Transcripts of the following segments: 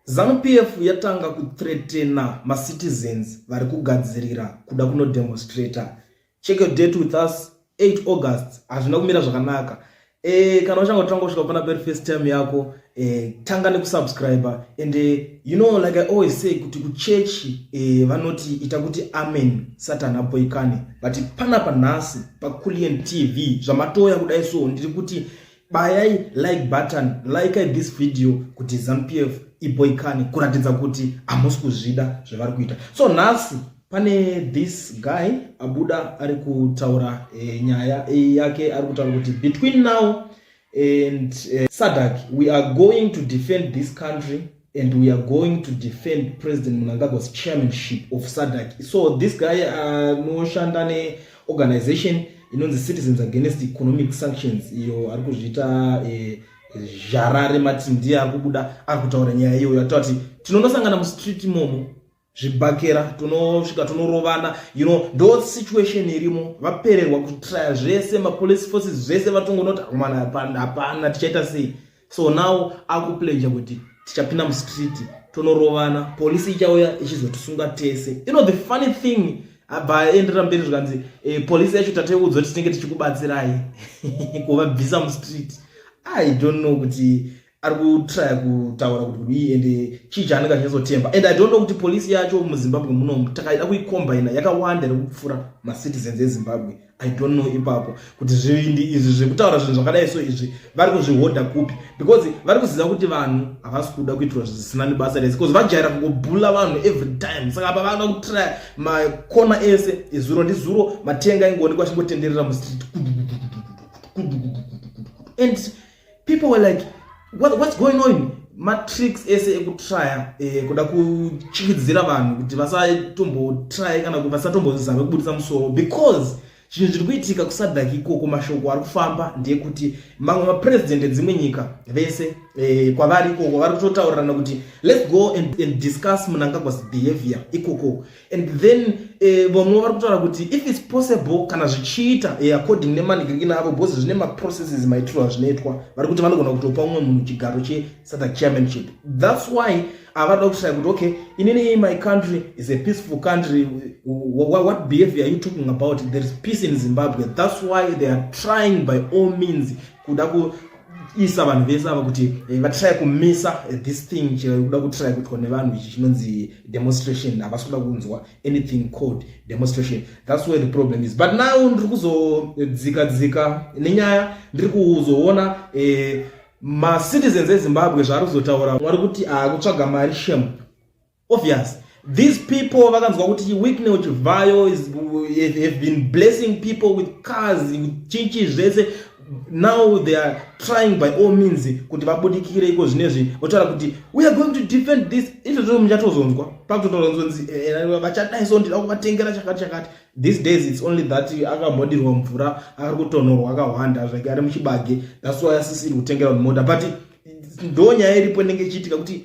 Zanu PF yatanga kuthreatena macitizens vari kugadzirira kuda kunodemonstrator. Check your date with us 8 August. Hazvina kumira zvakanaka. E, kana uchanga kutanga kusvika pana peri first time yako e, tanga nekusubscribe and e, you know like I always say kuti kuchechi e, vanoti ita kuti amen satani apoikane but panapa nhasi paCullion TV zvamatouya kudai so ndiri kuti bayai like button like this video kuti zampf iboikane kuratidza kuti hamusi kuzvida zvavari kuita so nhasi pane this guy abuda ari kutaura e, nyaya e, yake ari kutaura kuti between now and e, sadak we are going to defend this country and we are going to defend president munangagwa's chairmanship of sadak so this guy anoshanda uh, neorganization inonzi citizens against economic sanctions iyo ari kuzviita eh, zharare mati ndiye ari kubuda ari kutaura nyaya iyoyo atoa kuti tinonosangana mustreet imomo zvibhakera tunosvika tunorovana you know ndo situation irimo vapererwa kutraya zvese mapolice forces zvese vatongonoti akomana hapana tichaita sei so now akuplenja kuti tichapinda mustreet tonorovana polisi ichauya ichizotisunga tese you know the funny thing abva aendera mberi zvikanzi e, polisi yacho tateudzwa titinenge tichikubatsirai kuvabvisa mustreet i don't know kuti ari kutraya kutaura kuti kudii and chii chaanenge achinyazotemba and i don't know kuti polisi yacho muzimbabwe munomu takaida kuikombaina yakawanda iri kupfuura macitizens ezimbabwe i don't know ipapo kuti zvivindi izvi zvekutaura zvinhu zvakadai so izvi vari kuzvihodha kupi because vari kuziva kuti vanhu havasi kuda kuitirwa zvisina nebasa rese bcause vajaira kungobhula vanhu every time saka apa vanoda kutraya makona ese izuro ndizuro matenga aingoonekwa achingotenderera mustreet and people were like what, what's going on matricks ese ekutrya eh, kuda kuchikidzira vanhu kuti vasatombotry kana vasatombozame kubudisa musoro because zvinhu zviri kuitika kusadhaki ikoko mashoko ari kufamba ndeyekuti mamwe mapresident edzimwe nyika vese eh, kwavari ikoko vari kutotaurirana kuti let's go and, and discuss munangagwas behavior ikoko and then eh, vamwe vari kutaura kuti if its possible kana zvichiita eh, according nemanigirikina avo bcause zvine maprocesses maitiro azvinoitwa vari kuti vanogona kutopa umwe munhu chigaro chesata chairmanship thats why avada kushaya kuti okay inini my country is a peaceful country what behavior are you talking about there is peace in zimbabwe thats why they are trying by all means kuda kuisa vanhu vese ava kuti eh, vatry kumisa eh, this thing chekuda kutry kuitwa nevanhu ichi chinonzi demonstration havasi kuda kunzwa anything called demonstration thats where the problem is but now ndiri kuzodzika dzika nenyaya ndiri kuzoona eh, macitizens ezimbabwe zvaari kuzotaura mwari kuti akutsvaga mari shem obvious these people vakanzwa kuti wickney uchivhayo have been blessing people with cars chinchi zvese now they are trying by all means kuti vabudikire iko zvinezvi votaura kuti we are going to defend this izvozvo muchatozonzwa pakutotoronzonzi eh, eh, vachadai so ndida kuvatengera chakati chakati these days its only that akamhodirwa mvura ari kutonhorwa akahwanda zvake ari muchibage that's why asisiri kutengera mota but ndo nyaya iripo inenge ichiitika kuti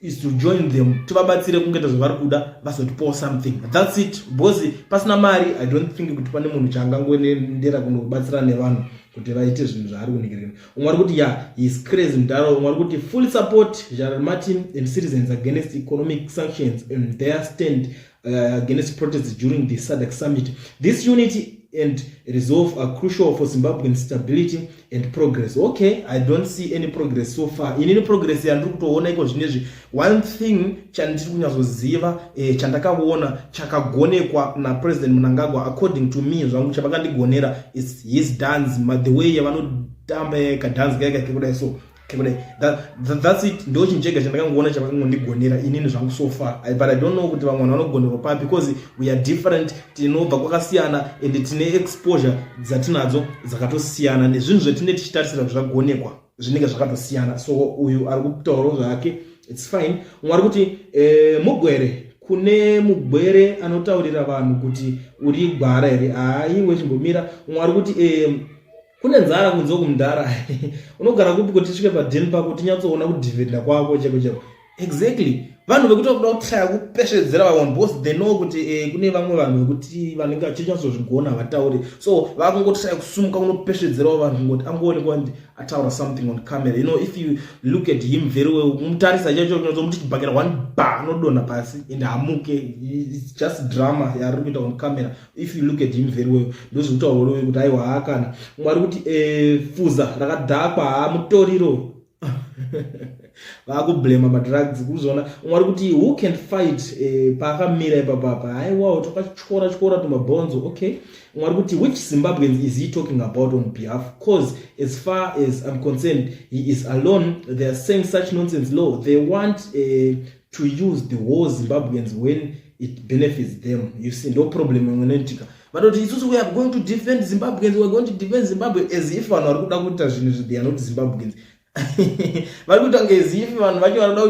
is to join them tivabatsire kungeta zvavari kuda vazotipawo something thats it because pasina mari i don't think kuti pane munhu chaangangoendera kunobatsira nevanhu kuti vaite zvinhu zvaari kunhikirira umwe ari kuti ya his crazy mudaro umwe ari kuti full support general martin and citizens against economic sanctions and their stand uh, against protests during the SADC summit. This unity and resolve are crucial for Zimbabwean stability and progress. Okay, I don't see any progress so far. In any progress yandiri kutoona iko zvinezvi. One thing chandiri kunyatsoziva eh, chandakaona chakagonekwa na President Mnangagwa according to me zvangu chavakandigonera is his dance, the way yavanotamba kadance kake kudai so kudai that, that, that's it ndo chinhu chega chandakangoona chavakangondigonera inini zvangu so far I, but i don't know kuti vamwe vanhu vanogonerwa papi because we are different tinobva kwakasiyana and tine exposure dzatinadzo dzakatosiyana nezvinhu zvatinenge tichitarisira kuti zvagonekwa zvinenge zvakatosiyana so uyu ari kutaurawo zvake its fine umwe ari kuti eh, mugwere kune mugwere anotaurira vanhu kuti uri gwara here haa iwe chimbomira umwe ari kuti eh, kune nzara kunze uku mdhara unogara kupi kuti tisvike padheni pako tinyatsoona kudhividha kwako cheko cheko exactly vanhu vekuti vakuda kutaya kupesvedzera vamwe because they know kuti eh, kune vamwe vanhu vekuti vanenge vachinyatsozvigona havatauri so vakungotaya kusumuka kunopesvedzerawo vanhu kungoti angoonekwa ndi ataura something on camera you know if you look at him very well mutarisa chacho kunyazomuti chibhakera one ba anodonha pasi and hamuke just drama yaari kuita on camera if you look at him very well ndozvekutaura urowe kuti aiwa haa kana mwari kuti eh, fuza rakadhakwa haa mutoriro vakublema madrugs kuzona mwari kuti who can fight eh, paakamira ipapapa haiwawo takatyora tyora tumabhonzo okay mwari kuti which zimbabweans is he talking about on behalf cause as far as i'm concerned he is alone they are saying such nonsense law they want uh, to use the whole zimbabweans when it benefits them you see ndo problem imwe inoitika vatoti isusu we are going to defend zimbabweans weare going to defend zimbabwe as if vanhu vari kuda kuita zvinhu izvi they are not zimbabweans vari kuita kunge as if vanhu vacho vanoda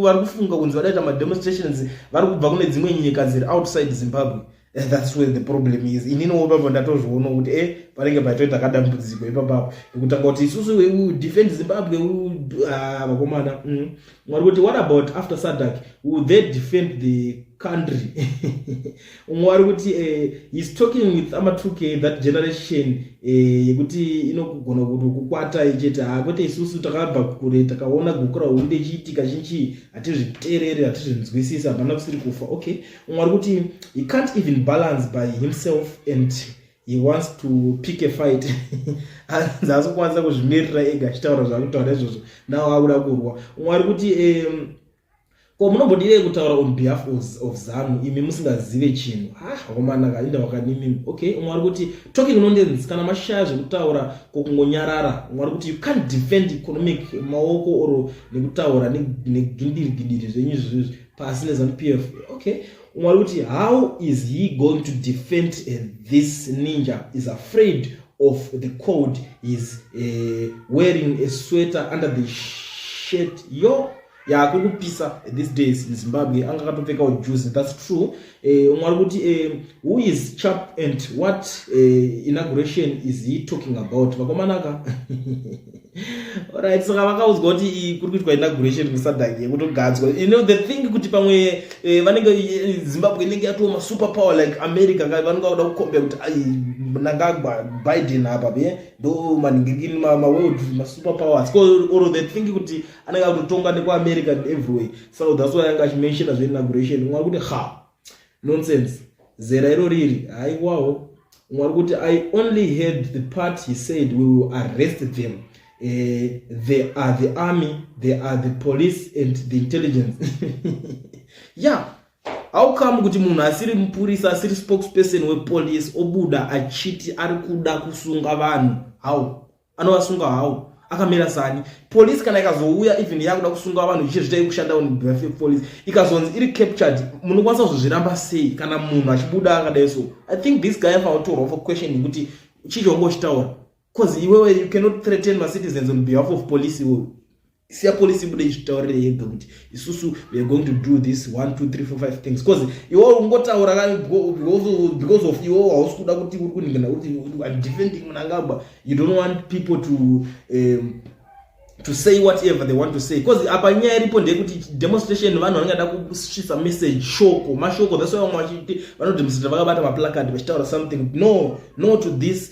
vari kufunga kunzi vadaita mademonstrations vari kubva kune dzimwe nyika dziri outside zimbabwe and thats where the problem is ininiwo ipapo ndatozviona kuti e eh, panenge paitoita kadambudziko ipapapo ekutanga kuti isusu we defend zimbabwe ah, vakomana mm. mwari kuti what about after sadak will they defend the country umwe wari kuti eh, heis talking with amatuke that generation eh, yekuti inogona kuti kukwata ichete ha ah, kwete isusu takabva kure takaona gukura hunde chiitika chinchii hatizviterere hatizvinzwisisi hapana kusiri kufa okay umwe ari kuti he can't even balance by himself and he wants to pick a fight hanzi asi kukwanisa kuzvimirira ega achitaura zvakutaura izvozvo nawo akuda kurwa umwe ari kuti um, ko munombodire kutaura on behalf of zanu imi musingazive chinhu haomanaka ah, inda wakanimimi okay umwe ari kuti talking nonsense kana mashaya zvekutaura kokungonyarara umwe ari kuti you can't defend economic maoko or nekutaura negindiri gindiri zvenyu zvizvi pasi nezanupf okay umwe ari kuti how is he going to defend uh, this ninja is afraid of the cold is uh, eh, wearing a sweater under the shirt yo yakuri yeah, kupisa these days in zimbabwe anga akatopfekawo juzi thats true uh, eh, umwe ari kuti uh, who is chap and what uh, inauguration is he talking about vakomanaka Alright, saka vakaudzwa kuti kuri kuitwa inauguration kuSadag yekutogadzwa. You know the thing kuti pamwe eh, vanenge eh, Zimbabwe inenge yatoo ma super power like America ka vanenge vakuda kukombea kuti ai Mnangagwa Biden hapa be eh, ndo maningirikini ma, ma world ma super powers. Ko or the thing kuti anenge akutotonga nekwa America everywhere. So that's why anga mention as inauguration. Mwa kuti ha Nonsense. Zera iro riri. Haiwawo. Mwari kuti I only heard the part he said we will arrest them. Uh, they are the army, they are the police and the intelligence. yeah. How come kuti munhu asiri mupurisa asiri spokesperson wepolice obuda achiti ari kuda kusunga vanhu? How? anovasunga hawo akamira sani polisi kana ikazouya even yakuda kusunga vanhu ichizvita ikushanda police ikazonzi iri captured munokwanisa kuzozviramba sei kana munhu achibuda akadai so i think this guy afaotorwa for questioning kuti chii chaunga uchitaura bcause iwewe you cannot threaten macitizens on behalf of police iwewe siya police ibude izvitaurire yega kuti isusu weare going to do this one two three four five things bcause iwe ungotaura ka because of iwe hausi kuda kuti uri kuningana kuti im defending munangagwa you don't want people to um, to say whatever they want to say bcause apa nyaya iripo ndeyekuti demonstration vanhu vanenge da kusvisa message shoko mashoko that's why vamwe vachiti vanodemonstrata vakabata maplacard vachitaura something no no to this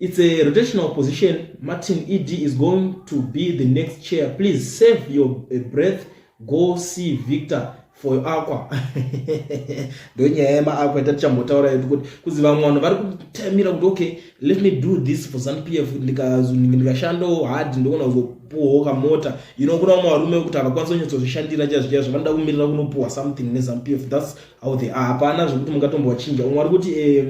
It's a rotational position. Martin ED is going to be the next chair. Please save your eh, breath. Go see Victor for your aqua. Ndonyaya yema aqua tatichambotaura yedu kuti kuzi vamwe vanhu vari kutamira kuti okay, let me do this for some PF ndikashandawo hard ndogona kuzopuwawo kamota. You know kuna vamwe varume kuti havakwanisa kunyatsozvishandira chaizvo chaizvo vanoda kumirira kunopuwa something neZAMPF. That's how they are. Hapana zvekuti mungatombovachinja. Umwe ari kuti eh,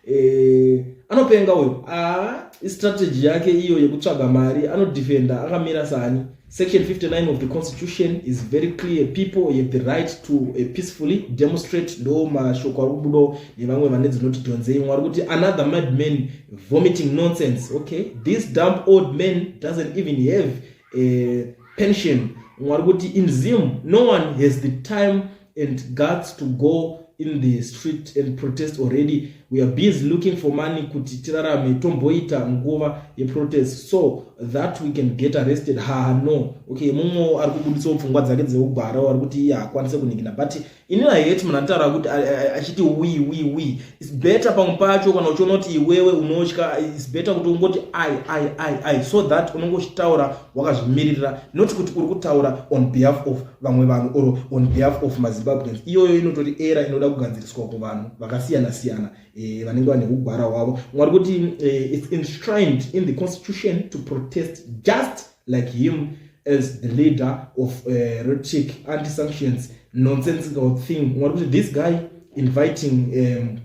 eh, anopenga uyo ah, istrategy yake iyo yekutsvaga mari anodefenda akamira sani section 59 of the constitution is very clear people have the right to a eh, peacefully demonstrate ndo mashoko ari kubudo nevamwe vane dzinoti dhonzei mwari kuti another mad man vomiting nonsense okay this dump old man doesn't even have a eh, pension mwari kuti in zim no one has the time and guts to go in the street and protest already we are busy looking for money kuti tirarame tomboita nguva yeprotest so that we can get arrested ha no okay mumwe ari kubuditsawo pfungwa dzake dzeugwara ari kuti iye hakwanise kuningina but ini aheti munhu anotaura kuti achiti wi wi wi its better pamwe pacho kana uchiona kuti iwewe unotya its better kuti ungoti i i i i so that unongochitaura wakazvimiririra not kuti uri kutaura on behalf of vamwe vanhu or on behalf of mazimbabweans iyoyo inotori era inoda kugadziriswa kuvanhu vakasiyana siyana eh, vanenge vane kugwara hwavo mwari kuti eh, its enshrined in the constitution to protest just like him as the leader of uh, eh, rotic anti sanctions nonsensical thing mwari kuti this guy inviting um,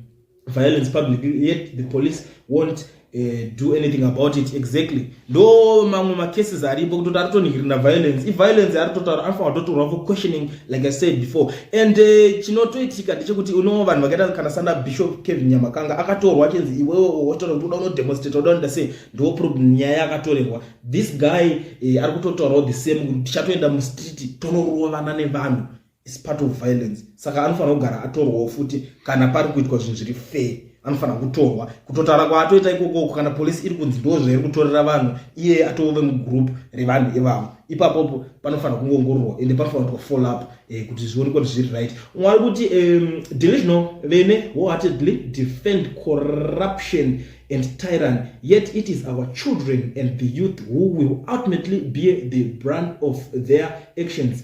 violence publicly yet the police won't uh, do anything about it exactly ndo mamwe macases aripo kutoti ari kutonhirina violence iviolence ari totaura anofanira kutotorwa for questioning like i said before and uh, chinotoitika uh, ndechekuti unowo vanhu vakaita kana sana bishop kevin nyamakanga akatorwa achinzi iwewe wotora kuti uda unodemonstrate uda unoda sei ndo problem nyaya yakatorerwa this guy uh, ari kutotaurawo the same kuti tichatoenda mustreet tonoroovana nevanhu is part of violence saka anofanira kugara atorwawo futi kana pari kuitwa zvinhu zviri fair anofanira kutorwa kutotaura kwaatoita ikokoko kana polisi iri kunzi ndo zvairi kutorera vanhu iye atove mugroup revanhu ivavo ipapopo panofanira kungoongororwa ende panofanira kuitwa follow up eh, kuti zvione kuti zviri right umwe ari kuti um, divisional vene wholeheartedly defend corruption and tyrant yet it is our children and the youth who will ultimately be the brand of their actions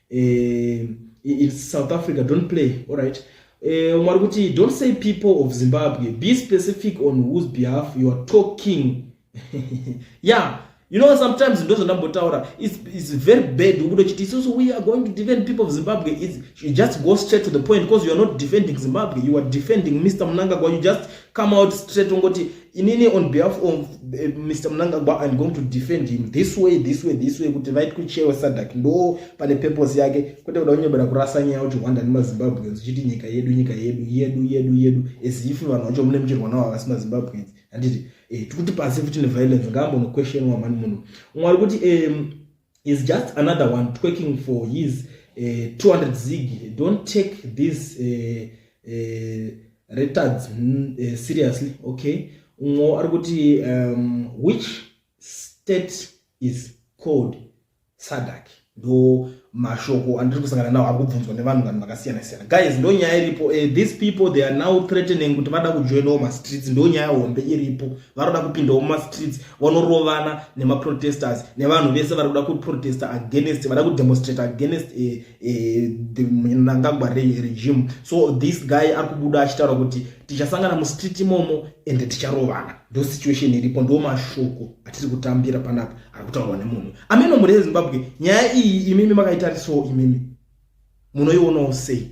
eh, it's south africa don't play all right eh, umwe ari kuti don't say people of zimbabwe be specific on whose behalf you are talking yeah you know sometimes ndo zvandambotaura it's, it's very bad ukuti chiti isusu we are going to defend people of zimbabwe it's, you just go straight to the point because you are not defending zimbabwe you are defending mr munangagwa you just come out straight ungoti inini on behalf of uh, eh, mr munangagwa im going to defend him this way this way this way kuti vaiti kuchewa sadak ndo pane purpose yake kwete kuda kunyobera kurasa nyaya kuti hwanda nemazimbabweans uchiti nyika yedu nyika yedu yedu yedu yedu as if vanhu vacho mune muchirwa navo havasi mazimbabweans handiti eh, tikuti pasi futi neviolence ngaambonoquestionwa mani munhu umwe ari kuti um, is just another one twerking for his uh, eh, 200 zig don't take this uh, uh, retards uh, seriously okay umwe ari kuti um, which state is called sadak ndo mashoko andiri kusangana nawo ari kubvunzwa nevanhu vanhu vakasiyana siyana guys ndo nyaya iripo uh, these people they are now threatening kuti vada kujoinawo mastreets ndo nyaya hombe iripo vanoda kupindawo mumastreets vanorovana nemaprotesters nevanhu vese vari kuda kuprotesta against vada kudemonstrate against eh, eh, the mnangagwa regime so this guy ari kubuda achitaura kuti tichasangana mustreet imomo ende ticharovana ndo situation iripo ndo mashoko atiri kutambira panapa ari kutaurwa nemunhu ameno mhuri yezimbabwe nyaya iyi imimi makaitarisawo imimi munoionawo sei